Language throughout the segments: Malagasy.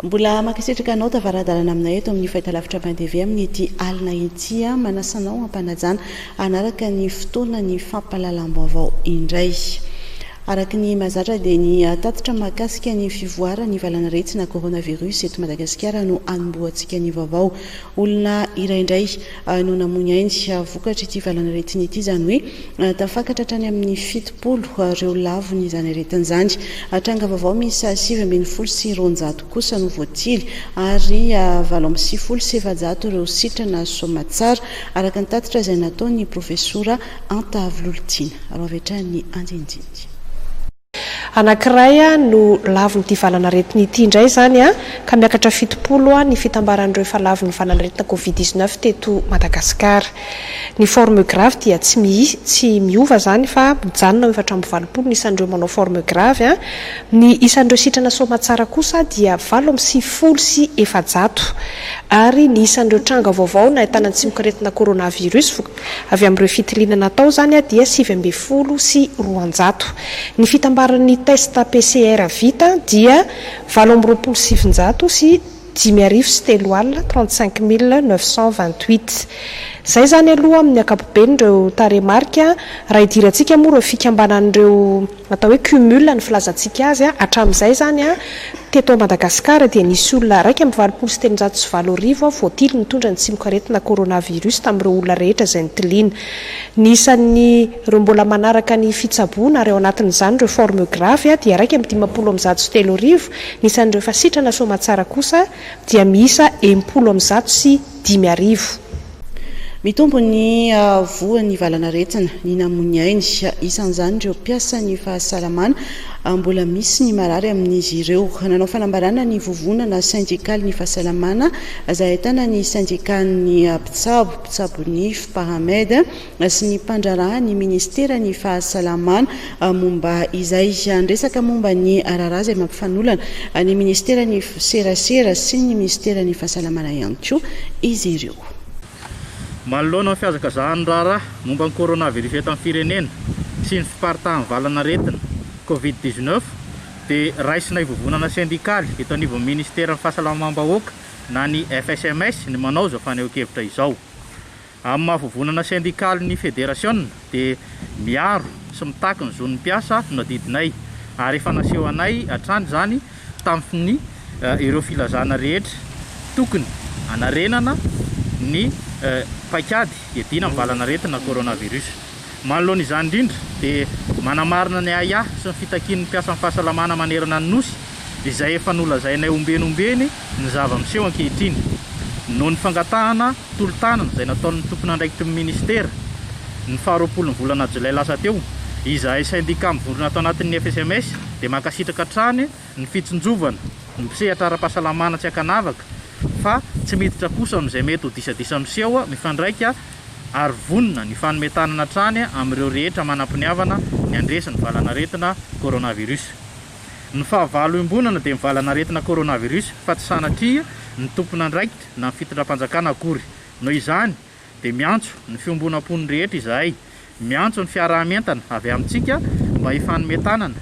Mbola mankasitraka anao tavaradalana aminay eto amin'ny fahitalavitra Bain TV amin'ity alina ity. Manasanao ampanajana hanaraka ny fotoana ny fampahalalam-baovao indray. Araka ny mahazatra dia ny tatitra mahakasika ny fivoaran'ny valan'aretina coronavirus eto Madagasikara no hanombohantsika ny vaovao. Olona iray indray no namoy ny ainy vokatr'ity valan'aretina ity izany hoe tafakatra hatrany amin'ny fitopolo ireo lavon'izany aretina izany. Tranga vaovao miisa sivy ambin'ny folo sy roanjato. kosa no voatily ary valo amby sivifolo sy efajato ireo sitrana soamatsara, araka ny tatitra izay nataon'ny profesora Antavo Lolitiana. Ary hoavy-hatrany ny andinindiny. Anankiray no lavon'ity valanaretina ity indray izany ka miakatra fitopolo ny fitambaran'ireo efa lavon'ny valanaretina covid dix neuf teto Madagasikara. Ny forme grave dia tsy miova izany fa mijanona eo efatra amby valopolo ny isan'ireo manao forme grave. Ny isan'ireo sitrana soamatsara kosa dia valo amby sivifolo sy efajato, ary ny isan'ireo tranga vaovao nahitana ny tsimokaretina coronavirus avy amin'ireo fitiliana natao izany dia sivy ambin'ny folo sy roanjato. Ny fitambaran'ny test PCR vita dia valo amby roapolo sy sivinjato sy dimy arivo sy telo alina, trente cinq mille neuf cent vingt huit. Izay izany aloha amin'ny ankapobeny ireo tarehimarika, raha idirantsika moa ireo fikambanan'ireo atao hoe cumul ny filazantsika azy hatramin'izay izany a, teto Madagasikara dia nisy olona iraika amby valopolo sy telonjato sy valo arivo voatily nitondra ny tsimokaretina coronavirus tamin'ireo olona rehetra izay nitiliana. Ny isan'ny ireo mbola manaraka ny fitsaboana ary ao anatin'izany ireo formes graves dia iraika amby dimampolo amby zato sy telo arivo, Ny isan'ireo fasitrana soamantsara kosa dia miisa enimpolo amby zato sy dimy arivo. Mitombo ny voan'ny valan'aretina ny namoy ainy, isan'izany ireo mpiasan'ny fahasalamana. Mbola misy ny marary amin'izy ireo. Nanao fanambarana ny vovonana sendikalin'ny fahasalamana, izay ahitana ny sendikan'ny mpitsabo, mpitsabo nify, Pahamed, sy ny mpandraharaha ny ministeran'ny fahasalamana momba izay. Niresaka momba ny raharaha izay mampifanolana ny ministeran'ny serasera sy ny minisiteran'ny fahasalamana ihany koa izy ireo. Manoloana ny fihazakazahan'ny raharaha momba ny coronavirus eto amin'ny firenena sy ny fiparitahan'ny valan'aretina covid dix-neuf dia raisinay vovonana sendikaly eto anivon'ny ministeran'ny fahasalamam-bahoaka na ny FSMS ny manao izao fanehoan-kevitra izao. Amin'ny maha vovonana sendikaly ny federasiona dia miaro sy mitaky ny zon'ny mpiasa no adidinay ary efa nasehonay hatrany izany tamin'ny ireo filazana rehetra tokony hanarenana ny paikady iadiana amin'ny valan'aretina coronavirus. Manoloana izany indrindra dia manamarina ny ahiahy sy ny fitakian'ny mpiasan'ny fahasalamana manerana ny Nosy izay efa nolazainay ombieny ombieny ny zava-miseho ankehitriny noho ny fangatahana tolo-tanana izay nataon'ny tompon'andraikitrn'ny minisitera ny faha roapolon'ny volana jolay lasa teo. Izahay sendika mivondrona ato anatin'ny FSMS dia mankasitraka hatrany ny fitsinjovana, ny mpisehatra ara-pahasalamana tsy ankanavaka fa tsy miditra kosa amin'izay mety ho disadisa miseho mifandraika ary vonona ny fanome tanana hatrany amin'ireo rehetra manam-piniavana ny handresy ny valanaretina coronavirus. Ny fahavalo iombonana dia ny valanaretina coronavirus fa tsy sanatria ny tompon'andraikitra na ny fitondram-panjakana akory. Noho izany, dia miantso ny fiombonam-pony rehetra izahay, miantso ny fiaraha-mientana avy amintsika mba hifanome tanana,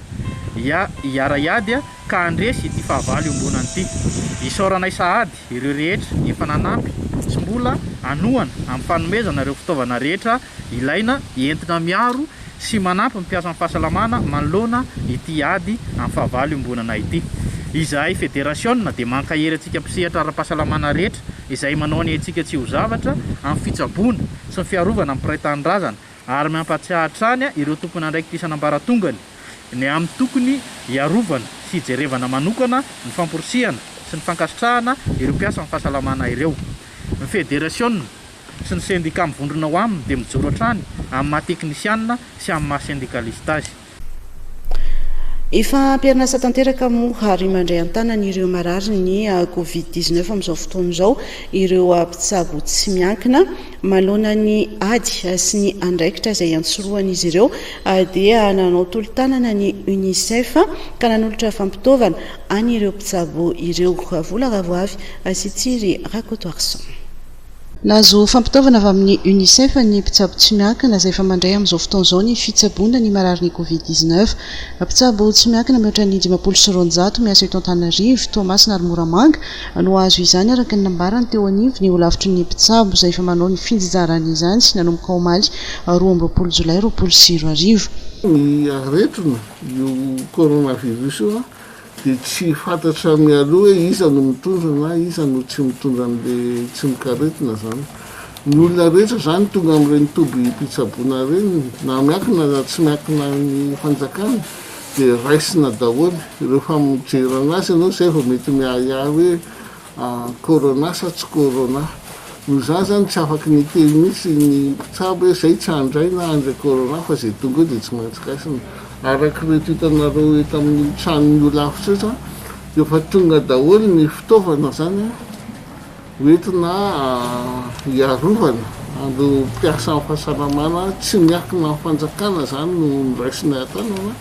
ia, hiara-hiady ka handresy ity fahavalo iombonana ity. Isaoranay sahady ireo rehetra efa nanampy sy mbola hanohana amin'ny fanomezana ireo fitaovana rehetra ilaina entina miaro sy manampy ny mpiasan'ny fahasalamana manoloana ity ady amin'ny fahavalo iombonana ity. Izahay federasiona dia mankahery antsika mpisehatra ara-pahasalamana rehetra izay manao ny aintsika tsy ho zavatra amin'ny fitsaboana sy ny fiarovana ny mpiray tanindrazana ary mampahatsiahy hatrany ireo tompon'andraikitra isan'ambaratongany ny amin'ny tokony hiarovana sy hijerevana manokana ny famporisihana sy ny fankasitrahana ireo mpiasan'ny fahasalamana ireo. Ny federasiona sy ny sendika mivondrona ao aminy dia mijoro hatrany amin'ny maha teknisianina sy amin'ny maha sendikalista azy. Efa am-perinasa tanteraka moa ary mandray an-tanana ireo mararin'ny ah, Covid 19 amin'izao fotoana izao ireo ah, mpitsabo tsy miankina. Manoloana ny ady ah, sy ny andraikitra izay antsorohan'izy ireo dia nanao tolo-tanana ny UNICEF ka nanolotra fampitaovana an'ireo mpitsabo ireo. Vola ravoavy sy Tsiry Rakotoarison. Nahazo fampitaovana avy amin'ny Unicef ny mpitsabo tsy miankina izay efa mandray amin'izao fotoana izao ny fitsaboana ny marary ny Covid dix neuf. Mpitsabo tsy miankina mihoatra ny dimampolo sy roanjato miasa eto Antananarivo, Toamasina ary Moramanga no hahazo izany araka ny nambarany teo anivon'ny holafitry ny mpitsabo izay efa manao ny fijizarany izany nanomboka omaly roa amby roapolo jolay roapolo sy roa arivo. Ny aretina io coronavirus io an! Dia tsy fantatra mialoha hoe iza no mitondra na iza no tsy mitondra an'le tsimokaretina zany. Ny olona rehetra zany tonga amin'ireny tobim-pitsaboana ireny na miankina na tsy miankina ny fanjakana dia raisina daholo ireo famojerana azy ianao zay vao mety miahiahy hoe Ah, corona sa tsy corona? Noho izany izany tsy afaky niteny mihitsy ny mpitsabo hoe izay tsy handray na handray corona fa izay tonga eo dia tsy maintsy kaisina. Araka ireto hitanareo eto amin'ny tranon'ny holafitra eto an, dia efa tonga daholo ny fitaovana izany an, ho entina hiarovana an'ireo mpiasan'ny fahasalamana tsy miankina amin'ny fanjakana izany no noraisina an-tanana.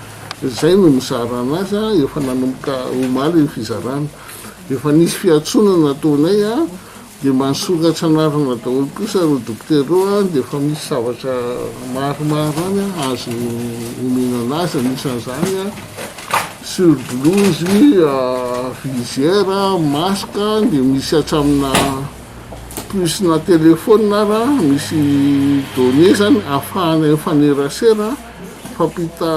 Izay no mizara an'azy an, efa nanomboka omaly ny fizarana. Rehefa nisy fiantsoana nataonay dia mba nisokatra anarana daholo kosa ireo dokotera ireo ary dia efa misy zavatra maromaro any azo omena an'azy anisan'izany surblouse, visière, masque dia misy hatramina puce na telephone ary misy données zany ahafahanay mifanerasera. Hifampita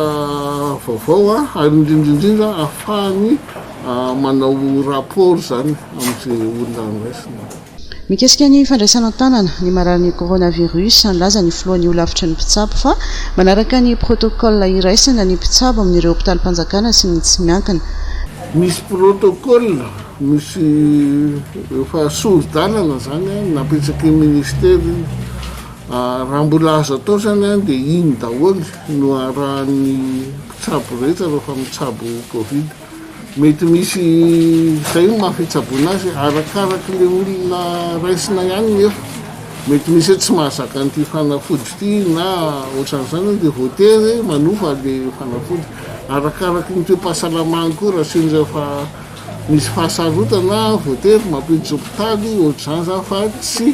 vaovao ary indrindra indrindra ahafahany manao rapport izany amin'izay olona andraisina. Mikasika ny fandraisana an-tanana ny mararin'ny coronavirus, nilaza ny filohan'ny holafitry ny mpitsabo fa manaraka ny protocole iraisana ny mpitsabo amin'ireo hopitalim-panjakana sy ny tsy miankina. Misy protocole, misy efa sori-dalana izany napetraky ny ministera iny. Raha mbola azo atao izany an, dia iny daholo no arahan'ny mpitsabo rehetra rehefa mitsabo covid. Mety misy izay ny maha fitsaboana azy, arakaraky ilay olona raisina ihany nefa. Mety misy hoe tsy mahazaka an'ity fanafody ity na ohatran'izany dia voatery manofa ilay fanafody. Arakaraky ny toe-pahasalamany koa raha sendra efa misy fahasarotana voatery mampiditra hopitaly ohatr'izany izany fa tsy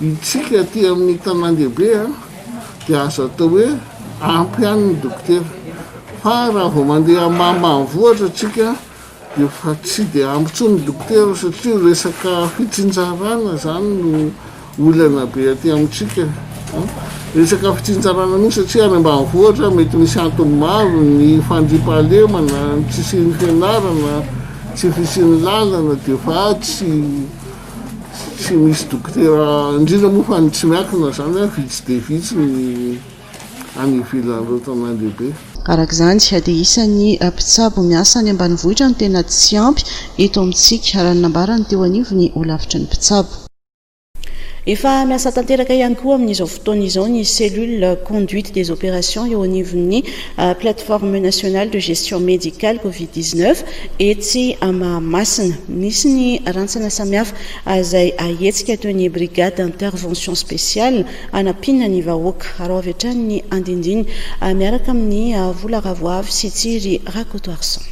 Isika aty amin'ny tanàn-dehibe dia azo atao hoe ampy ihany ny dokotera, fa raha vao mandeha ambanimbanivohitra isika dia efa tsy dia ampy intsony ny dokotera satria resaka fitsinjarana izany no olana be aty amintsika. Resaka fitsinjarana mihitsy satria any ambanivohitra mety misy antony maro, ny fandriampahalemana, ny tsy hisian'ny fianarana, tsy fisian'ny lalana dia efa tsy tsy misy dokotera, indrindra moa fa ny tsy miankina izany, vitsy dia vitsy ny any ivelan'ireo tanàn dehibe. Araka izany, dia isan'ny mpitsabo miasa any ambanivohitra no tena tsy ampy eto amintsika, raha ny nambarany teo anivon'ny holafitry ny mpitsabo. Efa miasa tanteraka ihany koa amin'izao fotoana izao ny cellule conduite des opérations eo anivon'ny. Plateforme Nationale de Gestion Médicale Covid 19 etsy Mahamasina. Nisy ny rantsana samihafa izay ahetsika toy ny Brigade d'Intervention Spéciale hanampiana ny vahoaka. Araho avy hatrany ny andindiny miaraka amin'i Vola Ravoavy sy Tsiry Rakotoarison.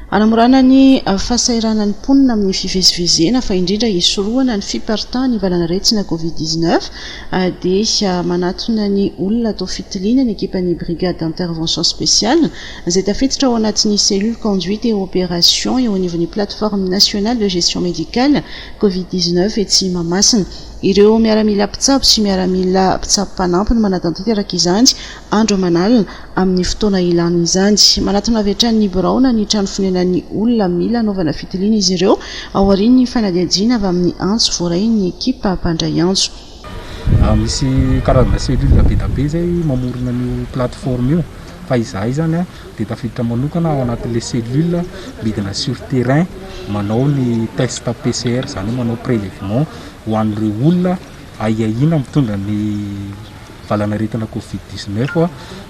Hanamorana ny fahasahiranan'ny mponina amin'ny fivezivezena fa indrindra hisorohana ny fiparitahan'ny valanaretina covid dix neuf dia manatona ny olona atao fitiliana ny ekipan'ny Brigade d'intervention spéciale izay tafiditra ao anatin'ny Cellule conduite et opération eo anivon'ny Plateforme nationale de gestion médicale covid dix neuf etsy Mahamasina. Ireo miaramila mpitsabo sy miaramila mpitsabo mpanampy no manatanteraka izany andro aman'alina amin'ny fotoana ilàna izany. Manatona avy hatrany ny birao na ny trano fonenan'ny olona mila anaovana fitiliana izy ireo, aorian'ny fanadihadiana avy amin'ny antso voarain'ny ekipa mpandray antso. Misy karazana cellule be dia be izay mamorona an'io plateforme io, fa izahay izany dia tafiditra manokana ao anatin'ilay cellule midina sur terrain manao ny test PCR, izany hoe manao prélèvement ho an'ireo olona ahiahiana mitondra ny. valanaretina covid dix neuf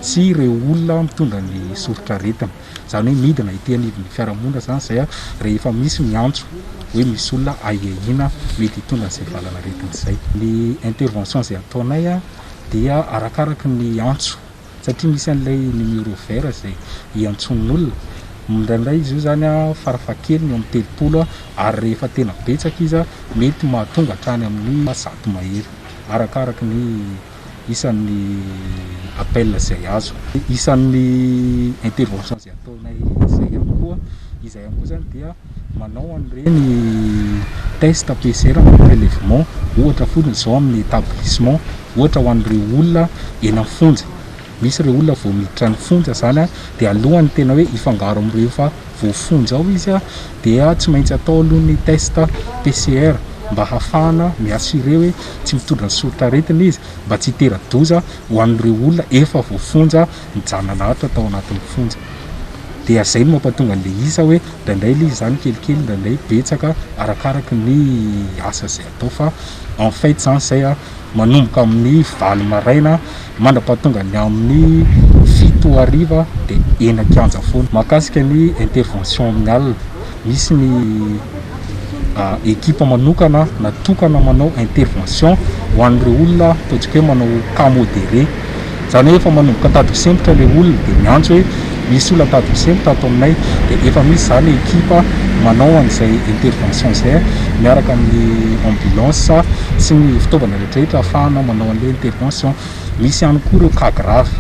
sy ireo olona mitondra ny soritraretina. Izany hoe midina ety anivon'ny fiarahamonina izany izay rehefa misy ny antso hoe misy olona ahiahiana mety hitondra izay valanaretina izay. Ny intervention izay ataonay dia arakaraka ny antso satria misy an'ilay numéro vert izay iantsoan'ny olona. Indraindray izy io izany farafahakeliny eo amin'ny telopolo ary rehefa tena betsaka izy mety mahatonga hatrany amin'ny zato mahery. arakaraka ny isan'ny appel izay azo. Isan'ny intervention izay ataonay izay ihany koa, izahay ihany koa izany dia manao an'ireny test PCR na prélèvement, ohatra fotsiny izao amin'ny établissement, ohatra ho an'ireo olona eny amin'ny fonja. Misy ireo olona vao miditra ny fonja izany a, dia alohan'ny tena hoe hifangaro amin'ireo efa voafonja ao izy a, dia tsy maintsy atao aloha ny test PCR mba hahafahana mi-assurer hoe tsy mitondra ny soritr'aretina izy, mba tsy hitera-doza ho an'ireo olona efa voafonja nijanan'ato tao anatin'ny fonja. Dia izay no mampatonga an'ilay isa hoe indraindray aloha izy izany kelikely, indraindray betsaka, arakaraka ny asa izay atao fa en fait izany izay a, manomboka amin'ny valo maraina mandra-pahatonga ny amin'ny fito hariva dia eny an-kianja foana. Mahakasika ny intervention amin'ny alina, misy ny ekipa manokana natokana manao intervention ho an'ireo olona ataontsika hoe manao cas modéré. Izany hoe efa manomboka tady kisempotra ilay olona dia miantso hoe misy olona tady kisempotra ato aminay dia efa misy izany ekipa manao an'izay intervention izay miaraka amin'ny ambulance sy ny fitaovana rehetrarehetra ahafahana manao an'ilay intervention. Misy ihany koa ireo cas grave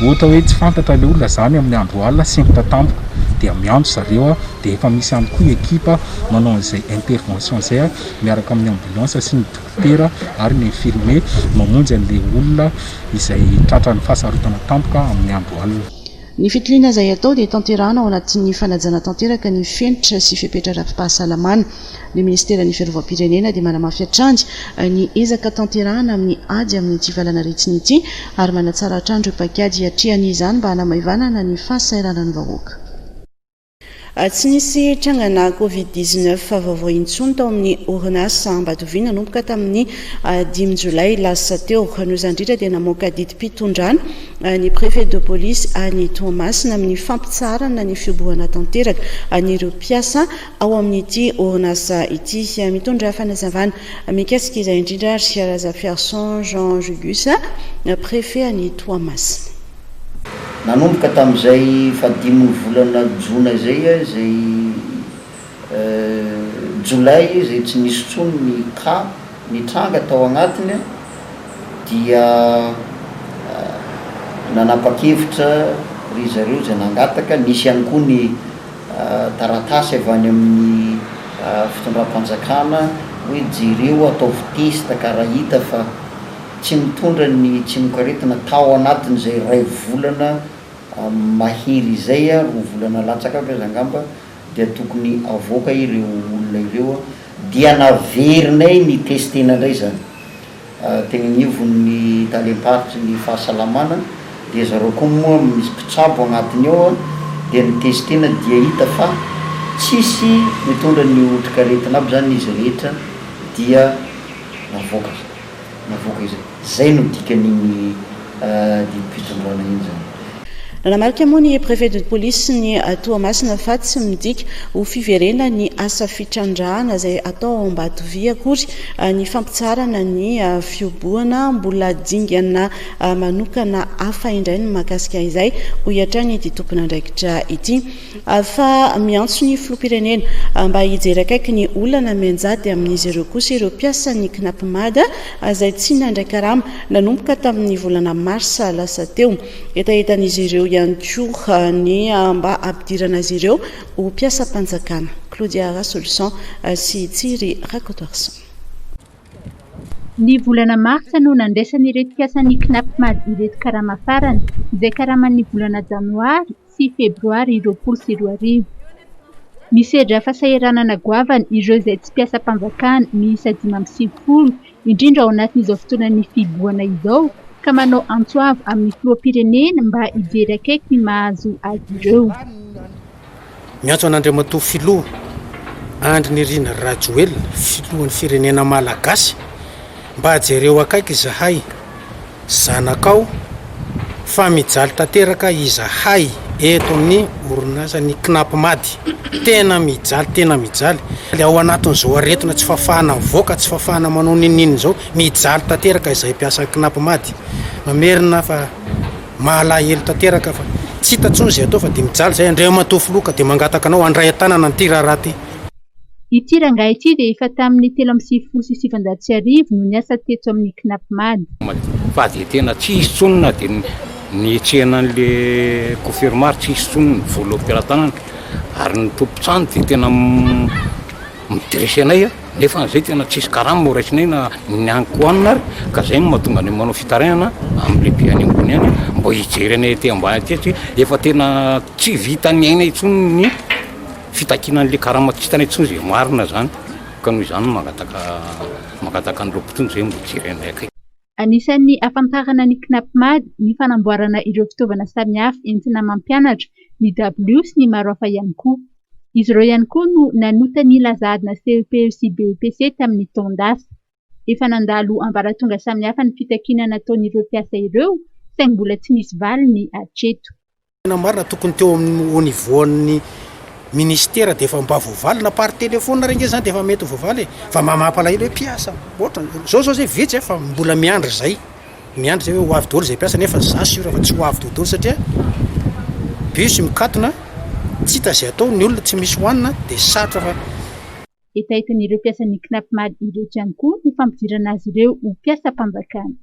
ohatra hoe tsy fantatra ilay olona izany amin'ny andro alina sempotra tampoka dia miantso zareo dia efa misy ihany koa ekipa manao an'izay intervention izay miaraka amin'ny ambulance sy ny dokotera. dokotera ary ny infirmier mamonjy an'ilay olona izay tratran'ny fahasarotana tampoka amin'ny andro alina. Ny fitiliana izay atao dia tanterahana ao anatin'ny fanajana tanteraka ny fenitra sy fepetra ara-pipahasalamana. Ny minisiteran'ny fiarovam-pirenena dia manamafy hatrany ny ezaka tanterahana amin'ny ady amin'ity valanaretina ity ary manatsara hatrany ireo paikady hiatrehana izany mba hanamaivanana ny fahasahiranan'ny vahoaka. Tsy nisy trangana Covid dix neuf vaovao intsony tao amin'ny orinasa Ambatoviana nanomboka tamin'ny dimy jolay lasa teo. Noho izany indrindra dia namoaka didim-pitondrana ny Préfet de police any Toamasina amin'ny fampitsaharana ny fihobohana tanteraka an'ireo mpiasa ao amin'ity orinasa ity. Mitondra fanazavana mikasika izay indrindra ary Razafiarison Jean Julius, Préfet any Toamasina. Nanomboka tamin'izay fahadimin'ny volana jona izay, izay jolay izay tsy nisy intsony ny cas nitranga tao agnatiny dia nanapa-kevitra ry zareo izay nangataka, nisy ihany koa ny taratasy avy any amin'ny fitondram-panjakana hoe jereo ataovy test ka raha hita fa. tsy nitondra ny tsimokaretina tao anatin'izay iray volana mahery izay, roa volana latsaka avy aza angamba dia tokony avoaka ireo olona ireo, dia naverinay ni-tester-na indray izany teny anivon'ny talem-paritry ny fahasalamana, dia zareo koa moa misy mpitsabo agnatiny ao dia ni-tester-na dia hita fa tsisy nitondra ny otrikaretina aby izany izy rehetra dia navoaka. navoaka izay. Izay no dikan'iny didim-pitsondrana iny izany. Nanamarika moa ny Préfet de Police ny Toamasina fa tsy midika ho fiverena ny asa fitrandrahana izay atao ao Ambatovy akory ny fampitsaharana ny fiobohana. Mbola dingana manokana hafa indray ny mahakasika izay, hoy hatrany ity tompon'andraikitra ity. Fa miantso ny filoham-pirenena mba hijery akaiky ny olana mianjady amin'izy ireo kosa ireo mpiasan'ny Cnap Mada izay tsy nandray karama nanomboka tamin'ny volana marsa lasa teo. Hetahetan'izy ireo ihany koa ny mba hampidirana azy ireo ho mpiasam-panjakana. Claudia Rasolison sy Tsiry Rakotoarison. Ny volana marsa no nandraisan'ireto mpiasan'ny Cnap Mada ireto karama farany, izay karaman'ny volana janoary, sy Febroary roapolo sy roa arivo. Misedra fasahiranana goavana ireo izay tsy mpiasam-panjakana miisa dimy amby sivifolo, indrindra ao anatin'izao fotoanan'ny fihibohana izao, ka manao antso avo amin'ny filoham-pirenena mba hijery akaiky ny mahazo azy ireo. Miantso an'Andriamatoa Filoha Andry Nirina Rajoelina, Filohan'ny Firenena Malagasy, Mba jereo akaiky izahay, zanakao, fa mijaly tanteraka izahay eto amin'ny orinasan'ny Cnap Madi. Tena mijaly, tena mijaly. Ao anatin'izao aretina tsy fahafahana mivoaka, tsy fahafahana manao n'inon'inona izao, mijaly tanteraka izahay mpiasa Cnap Madi. Mamerina fa mahalahelo tanteraka fa tsy hita intsony izay atao fa dia mijaly izahay. Andriamatoa Filoha ka dia mangataka anao handray an-tanana an'ity raharaha ity. Ity rangahy ity dia efa tamin'ny telo amby sivifolo sy sivinjato sy arivo no niasa teto amin'ny Cnapmad. Fa dia tena tsy hisy intsony na dia nihetsehana an'ilay confirma ary tsy hisy intsony ny vola ao am-pelatanana ary ny tompon-trano dia tena mi-dresser anay nefa na izay tena tsy hisy karama horaisinay na ny hanin-kohanina ary ka izay no mahatonga anay manao fitarainana amin'ny lehibe any ambony any mba hijery anay aty ambany aty satria efa tena tsy vita ny aina intsony ny Fitakiana an'ilay karama kintana intsony izay marina izany ka noho izany no mangataka mangataka an'ireo mpitondra izay mba hijery anay akaiky. Anisan'ny hafantarana ny Cnapmad ny fanamboarana ireo fitaovana samihafa entina mampianatra, ny dabilio sy ny maro hafa ihany koa. Izy ireo ihany koa no nanota ny lazadna CEPE sy BEPC tamin'ny taon-dasa. Efa nandalo ambaratonga samihafa ny fitakiana nataon'ireo mpiasa ireo saingy mbola tsy nisy valiny hatreto. Tena marina tokony teo amin'ny au niveau an'ny ministera dia efa mba voavaly na par téléphone ary ange zany dia efa mety voavaly e fa mba mampalahelo hoe mpiasa ohatra zao zao zay vitsy fa mbola miandry zay miandry zay hoe ho avy daholo zay mpiasa nefa za sûr fa tsy ho avy daholo satria bus mikatona tsy hita zay atao ny olona tsy misy hoanina dia sarotra fa Hetahetain'ireo mpiasan'ny Cnapmad ireto ihany koa ny fampidirana azy ireo ho mpiasam-panjakana.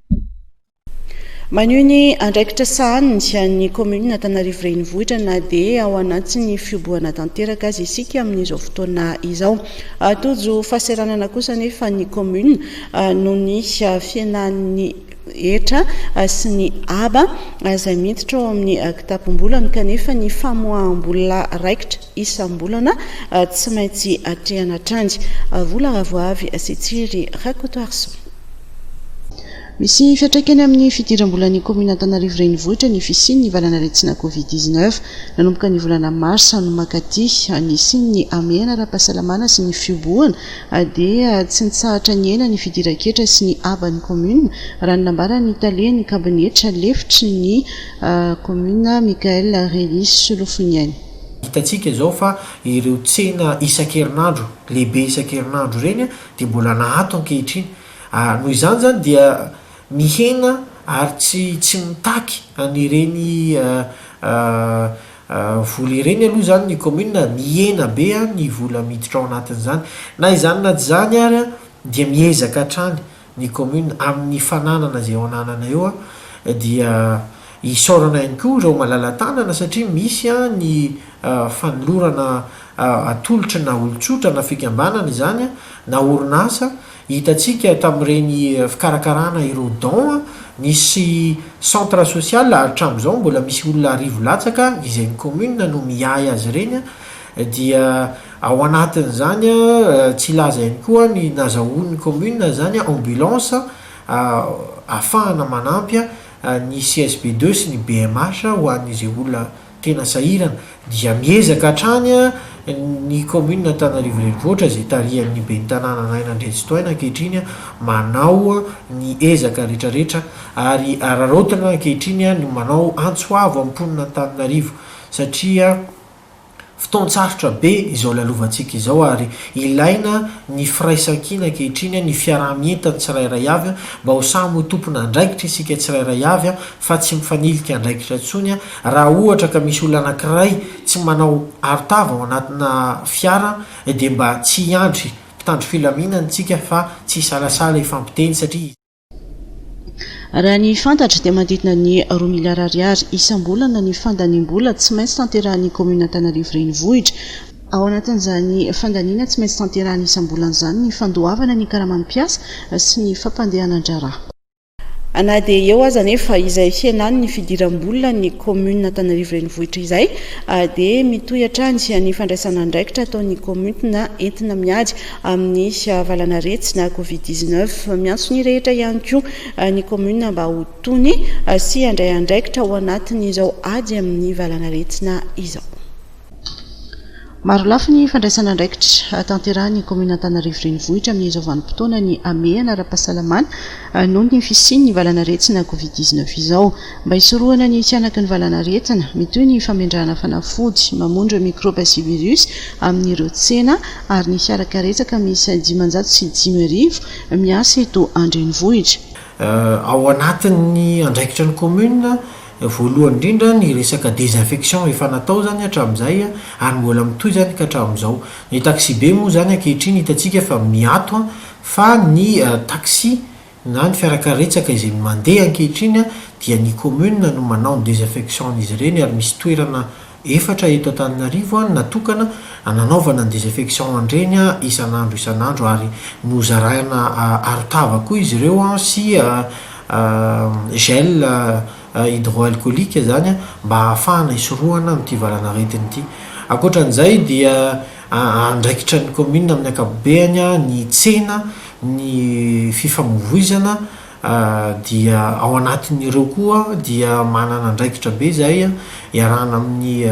Maneho ny andraikitra sahaniny ny kaominina Antanarivo Renivohitra na dia ao anatin'ny fihobohana tanteraka aza isika amin'izao fotoana izao. Tojo fahaseranana kosa anefa ny kaominina noho ny fihenan'ny hetra sy ny haba izay miditra ao amin'ny kitapom-bolany kanefa ny famoaham-bola raikitra isam-bolana tsy maintsy atrehana hatrany. Vola Ravoavy sy Tsiry Rakotoarison. Misy fiantraikany amin'ny fidiram-bolan'ny kaominina Antananarivo Renivohitra ny fisian'ny valanaretina Covid dix neuf. Nanomboka ny volana marsa no mankaty, ny hisian'ny hamehana ara-pahasalamana sy ny fiobohana dia tsy nitsahatra nihena ny fidiran-ketra sy ny haban'ny kaominina, raha ny nambaran'ny talen'ny kabinetra lefitry ny kaominina Michaël Rély Solofoniaina. Hitantsika izao fa ireo tsena isan-kerinandro, lehibe isan-kerinandro ireny dia mbola nahato ankehitriny. Ary noho izany izany dia mihena ary tsy tsy mitaky an'ireny vola ireny aloha izany ny kaominina, mihena be ny vola miditra ao anatin'izany. Na izany na tsy izany ary dia miezaka hatrany ny kaominina amin'ny fananana izay eo ananana eo dia isaorana ihany koa ireo malala-tanana satria misy ny fanolorana atolotry na olon-tsotra na fikambanana izany na orinasa Hitantsika tamin'ireny fikarakarana ireo don nisy centre social ary hatramin'izao mbola misy olona arivo latsaka izay ny commune no miahy azy ireny dia ao anatin'izany tsy hilaza ihany koa ny nazahoan'ny commune izany ambulance ahafahana manampy ny CSB deux sy ny BMH ho an'izay olona tena sahirana dia miezaka hatrany ny kaominina Antananarivo Renivohitra izay tarihan'ny ben'ny tanàna Naina Andriantsitohaina ankehitriny manao ny ezaka retraretra ary araraotina ankehitriny ny manao antso avo amin'ny mponina Antananarivo satria fotoan-tsarotra be izao lalovantsika izao ary ilaina ny firaisan-kina ankehitriny ny fiaraha-mientan'ny tsirairay avy mba ho samy ho tompon'andraikitra isika tsirairay avy fa tsy mifanilika andraikitra intsony Raha ohatra ka misy olona anankiray tsy manao arotava ao anatina fiara dia mba tsy hiandry mpitandro filaminana isika fa tsy hisalasala hifampiteny satria Raha ny fantatra dia manodidina ny roa miliara ariary isam-bolana ny fandaniam-bola tsy maintsy tanterahin'ny kaominina Antananarivo Renivohitra. Ao anatin'izany fandaniana tsy maintsy tanterahina isam-bolana izany ny fandoavana ny karaman'ny mpiasa sy ny fampandehanan-draharaha. Na dia eo aza anefa izay fihenany ny fidiram-bola ny Commune Antanarivo Renivohitra izay dia mitohy hatrany ny fandraisana andraikitra ataon'ny Communes entina miady amin'ny valan'aretsy na Covid dix neuf. Miantso ny rehetra ihany koa ny Commune mba ho tony sy handray andraikitra ao anatin'izao ady amin'ny valan'aretina izao. Marolafy ny fandraisana andraikitra tanterahin'ny kaominina Antanarivo Renivohitra amin'izao vanim-potoana ny hamehana ara-pahasalamana noho ny fisian'ny valanaretina covid dix neuf izao. Mba hisorohana ny tsy hanaky ny valanaretina, mitohy ny famendrahana fanafody mamono ireo mikraoba sy virus amin'ireo tsena ary ny fiara karetsaka miisa dimanjato sy dimy arivo miasa eto an-drenivohitra. Ao anatin'ny andraikitra ny kaominina Voalohany indrindra ny resaka désinfection efa natao zany hatramizay ary mbola mitohy zany ka hatramizao. Ny taxibe moa zany ankehitriny hitantsika fa miato an, fa ny taxi na ny fiarakaretsaka izay mandeha ankehitriny dia ny commune no manao ny désinfection an'izy ireny ary misy toerana Efatra eto Antananarivo no natokana hananaovana ny désinfection an-dreny isan'andro isan'andro ary nozaraina arotava koa izy ireo sy gel hydroalcoolique izany mba hahafahana hisorohana amin'ity valanaretina ity. Ankoatra an'izay dia andraikitra ny commune amin'ny ankapobeany ny tsena, ny fifamoivoizana. dia ao anatin'ireo koa dia manana andraikitra be izahay iarahana amin'ny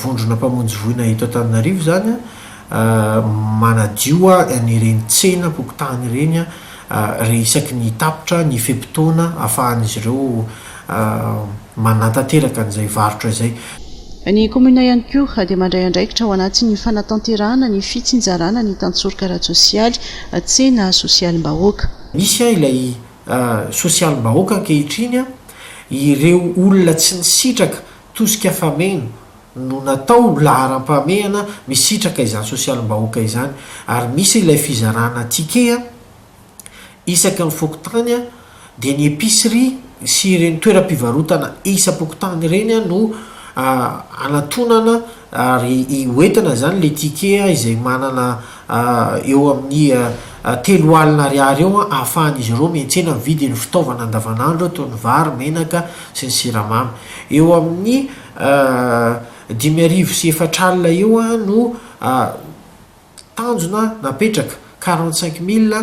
vondrona mpamonjy voina eto Antananarivo izany manadio an'ireny tsenam-pokontany ireny re isaky ny tapitra ny fe-potoana afahan'izy ireo manatanteraka an'izay varotra izay. Ny kaominina ihany koa dia mandray andraikitra ao anatin'ny fanatanterahana ny fitsinjarana ny tantsoroka ara-tsosialy, tsena sosialim-bahoaka. Misy an ilay sosialim-bahoaka ankehitriny an, ireo olona tsy nisitraka tosika fameno no natao ho laharam-pahamehana misitraka izany sosialim-bahoaka izany ary misy ilay fizarana ticket an, Isaky ny fokontany dia ny epicerie sy ireny toeram-pivarotana isam-pokontany ireny no hanatonana ary ho entina izany ilay ticket izay manana eo amin'ny telo alina ariary eo ahafahan'izy ireo miantsena mividy ny fitaovana andavanandro toy ny vary, menaka sy ny siramamy. Eo amin'ny dimy arivo sy efatra alina eo no tanjona napetraka, quarante cinq mille,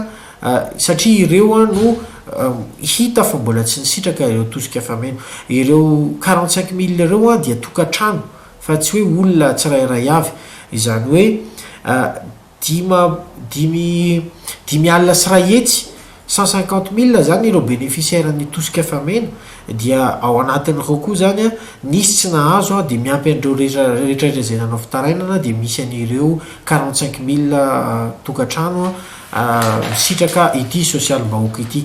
satria ireo no hita fa mbola tsy nisitraka ireo tosika fameno. Ireo quarante cinq mille ireo dia tokantrano fa tsy hoe olona tsirairay avy. Izany hoe dima, dimy, dimy alina sy iray hetsy Cent cinquante mille zany ireo bénéficiaires ny tosika efa mena dia ao anatin'ireo koa zany nisy tsy nahazo dia miampy an'ireo rehetra izay nanao fitarainana dia misy an'ireo quarante cinq mille tokantrano misitraka ity sosialim-bahoaka ity.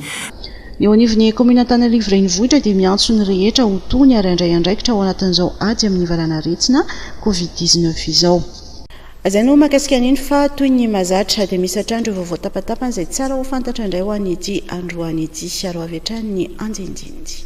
Ny eo anivon'ny kaominina Antananarivo Renivohitra dia miantso ny rehetra ho tony ary handray andraikitra ao anatin'izao ady amin'ny valanaretina covid dix-neuf izao. Zay no mahakasika an'iny fa toy ny mahazatra dia misy hatrany ireo vaovao tapatapany izay tsara ho fantatra indray ho an'ity androany ity. Hiaro avy hatrany ny andinindininy.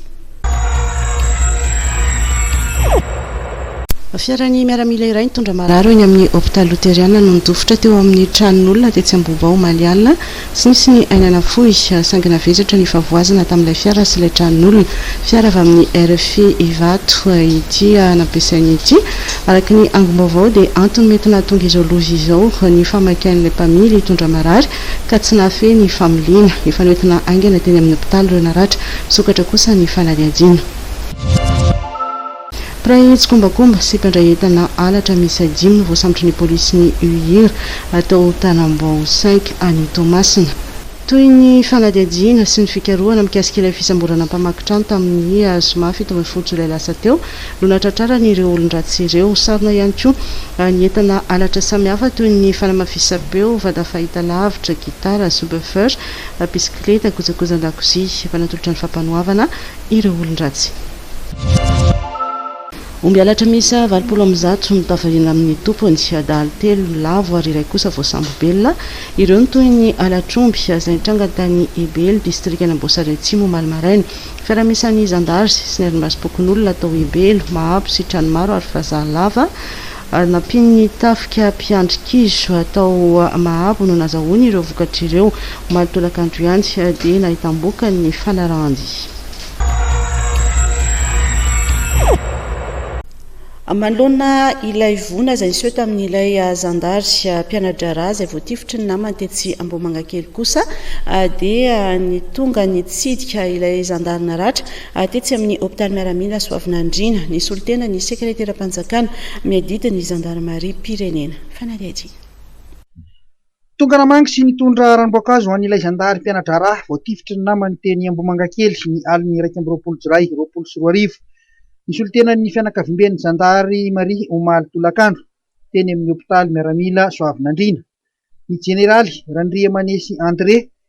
Fiaran'ny miaramila iray nitondra marary eo eny amin'ny hopitaly loteriana no nidofotra teo amin'ny tranon'olona tetsy Ambohibao omaly alina. Tsy nisy ny aina nafoy, saingina vesatra ny fahavoazana tamin'ilay fiara sy ilay tranon'olona. Fiara avy amin'ny rfi Ivato ity nampiasainy ity. Araka ny angom-baovao dia antony mety nahatonga izao loza izao ny fahamaikain'ilay mpamily hitondra marary ka tsy nahafehy ny familiana. Efa noentina haingana teny amin'ny hopitaly ireo naratra, misokatra kosa ny fanadihadiana. Mpiray tsikombakomba sy mpandray entana halatra miisa dimy no voasambotry ny polisin'ny UIR tao Tanambao cinq any Toamasina. Toy ny fanadihadiana sy ny fikarohana mikasika ilay fisamborana mpamaky trano tamin'ny zoma fito ambin'ny folo jolay lasa teo no nahatratrarany ireo olon-dratsy ireo. Sarona ihany koa ny entana halatra samihafa toy ny fanamafisam-peo, vata fahitalavitra, gitara, subwoofer, bisikileta, kojakojan-dakozia. Efa natolotra ny fampanoavana ireo olon-dratsy. Omby halatra miisa valopolo amby zato no tafahina amin'ny tompony. Adahalo telo lavo ary iray kosa voasambobelona. Ireo no toy ny halatr'omby izay nitranga tany Ebely, distrikan'Amboasary Atsimo omaly maraina. Fiaraha-miasan'ny zandary sy ny arimbasim-pokonolona tao Ebelo, Mahabo sy Tranomaro ary Vazaha lava ary nampian'ny tafika mpiandry kizo tao Mahabo no nazahoany ireo vokatra ireo. Omaly tolakandro ihany dia nahitam-bokany ny fanarahan-dia. Manoloana ilay voina izay niseho tamin'ilay zandary mpiana-draharaha izay voatifitry ny namany tetsy Ambohimangakely kosa dia nitonga nitsidika ilay zandary naratra tetsy amin'ny hopitaly miaramila Soavinandriana nisolo tena ny sekreteram-panjakana miadidy ny zandarimariam-pirenena. Fanadihadiana. Tonga namangy sy nitondra ranom-boankazo ho an'ilay zandary mpiana-draharaha voatifitry ny namany teny Ambohimangakely, ny alin'ny iraika amby roapolo Jolay roapolo sy roa arivo. Nisolontenan'ny fianakaviamben'ny zandary Maria omaly tolakandro, teny amin'ny hopitaly miaramila Soavinandriana, ny jeneraly Randriamanesy André,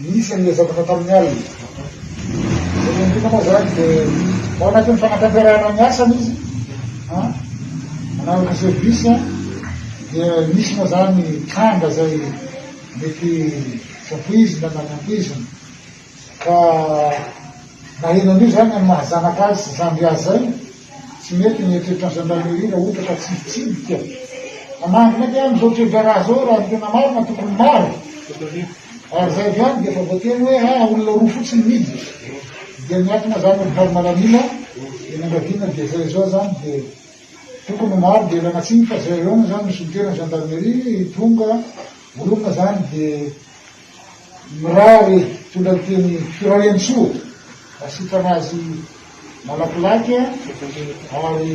Nisy an'ilay zavatra tamin'ny alina. Ilay olona moa izany dia ao anatin'ny fanatanterahana ny asany izy, manaraka service, dia nisy moa izany tranga izay mety voizina na nampoizina. Ka naheno an'io izany ny maha zanaka azy sy zandry azy izay. Tsy mety ny eritreritrany gendarmerie raha ohatra ka tsy hitsidika hanangy mety any zao toedraharaha zao raha ny tena marina tokony maro ary zay avy any dia efa voateny hoe aa ah, olona roa fotsiny miditra dia miankina zany amin'ny farimalanina eny angaviana dia zay zao zany dia tokony maro dia ilana tsiny fa zay eo zany misy mitena gendarmerie tonga olona zany dia Mirary tonga teny Firaiantsoa asitrana azy malakilaky ary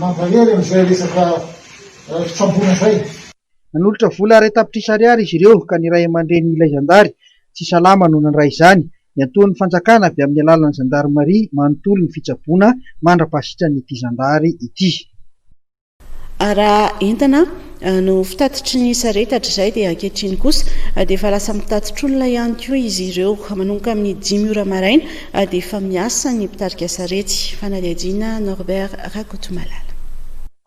mankahery amin'izay resaka fitsaboana izay. Nanolotra vola iray tapitrisa ariary izy ireo ka ny ray aman-dreny ilay zandary tsy salama no nandray izany. Niantohan'ny fanjakana avy amin'ny alalan'ny zandarimaria manontolo ny fitsaboana mandra-pasitran'ity zandary ity. Ary raha entana no fitatitry ny sarety hatrizay dia ankehitriny kosa dia efa lasa mitatitr'olona ihany koa izy ireo. Manomboka amin'ny dimy ora maraina dia efa miasa ny mpitarika sarety. Fanadihadiana, Norbert Rakotomalala.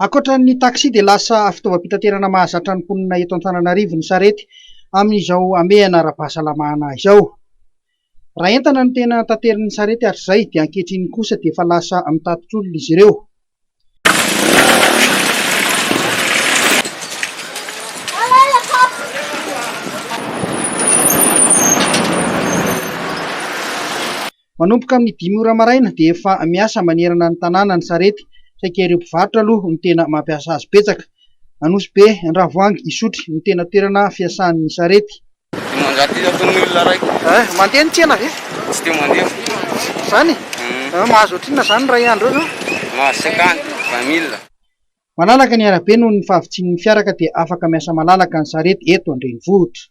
Ankoatra ny taxi dia lasa fitaovam-pitaterana mahazatra ny mponina eto Antananarivo ny sarety amin'izao hamehana ara-pahasalamana izao. Raha entana no tena taterin'ny sarety hatrizay dia ankehitriny kosa dia efa lasa mitatitr'olona izy ireo. Manomboka amin'ny dimy ora maraina dia efa miasa manerana ny tanàna ny sarety, saika ireo mpivarotra aloha no tena mampiasa azy betsaka. Anosibe, Andravoahangy, Isotry no tena toerana fiasan'ny sarety. Mandeha ny tsena ve? Tsy dia mandeha. Izany? Mahazo ohatrinona izany iray andro eo izao? Mahazo cinquante, vingt mille. Malalaka ny arabe noho ny fahavitsian'ny fiara ka dia afaka miasa malalaka ny sarety eto an-drenivohitra.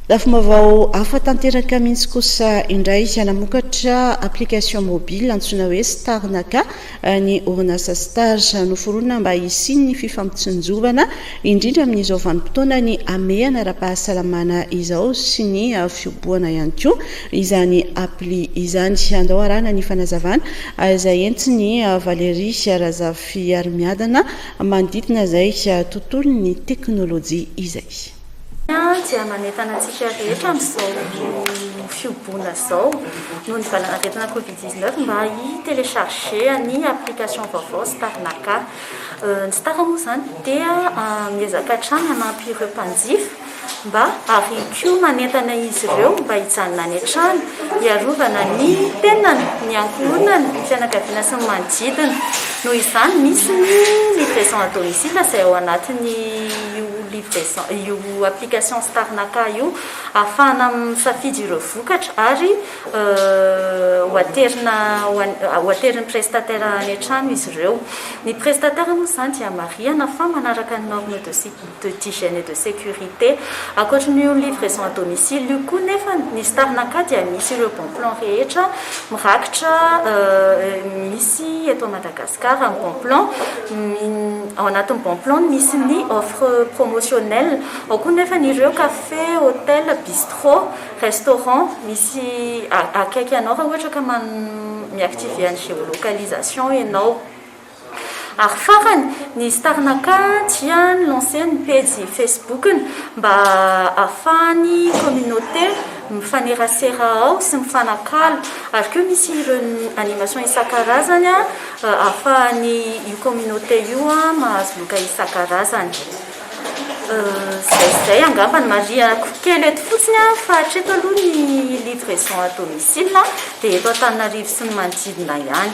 Lafim-baovao hafa tanteraka mihitsy kosa indray izay namokatra application mobile antsoina hoe Starnaka Ny orinasa Star noforonina mba hisian'ny fifampitsinjovana, indrindra amin'izao vanim-potoanan'ny hamehana ara-pahasalamana izao sy ny fiobohana ihany koa izany appli izany. Andao arahana ny fanazavana izay entin'i Valérie Razafiarimiadana manodidina izay tontolon'ny teknolojia izay. dia manentana antsika rehetra amin'izao fihoboana izao noho ny valanaretina covid 19 mba hi télécharger ny application vaovao star naka. Ny star moa izany dia miezaka hatrany hanampy ireo mpanjifa mba ary koa manentana izy ireo mba hijanona any an-trano hiarovana ny tenany, ny ankohonany, ny fianakaviana sy ny manodidina. Noho izany misy ny livraison à domicile izay ao anatin'ny. io application Star Napa io ahafahana misafidy ireo vokatra ary ho aterina ho aterin'ny prestataire any an-trano izy ireo. Ny prestataire moa izany dia marihana fa manaraka ny normes de de d'hygiène et de sécurité. Ankoatry ny io livraison à domicile io koa nefany, ny Star Napa dia misy ireo bon plan rehetra mirakitra misy eto Madagasikara. Madagascar en bon plan, ao anatin'ny bon plan misy ny offre promotionnelle, ao koa nefa ny ireo café, hotel, bistro, restaurant misy akaiky anao raha ohatra ka mi-activer an'ny géolocalisation ianao. Ary farany, ny Starnaka dia ni-lancer ny pejy Facebook-ny mba ahafahan'ny communauté, mifanerasera ao sy mifanakalo ary koa misy ireo animation isan-karazany ahafahan'ny io communauté io mahazo loka isan-karazany izay izay angamba ny marihako kely eto fotsiny aho fa hatreto aloha ny livraison à domicile dia eto Antananarivo sy ny manodidina ihany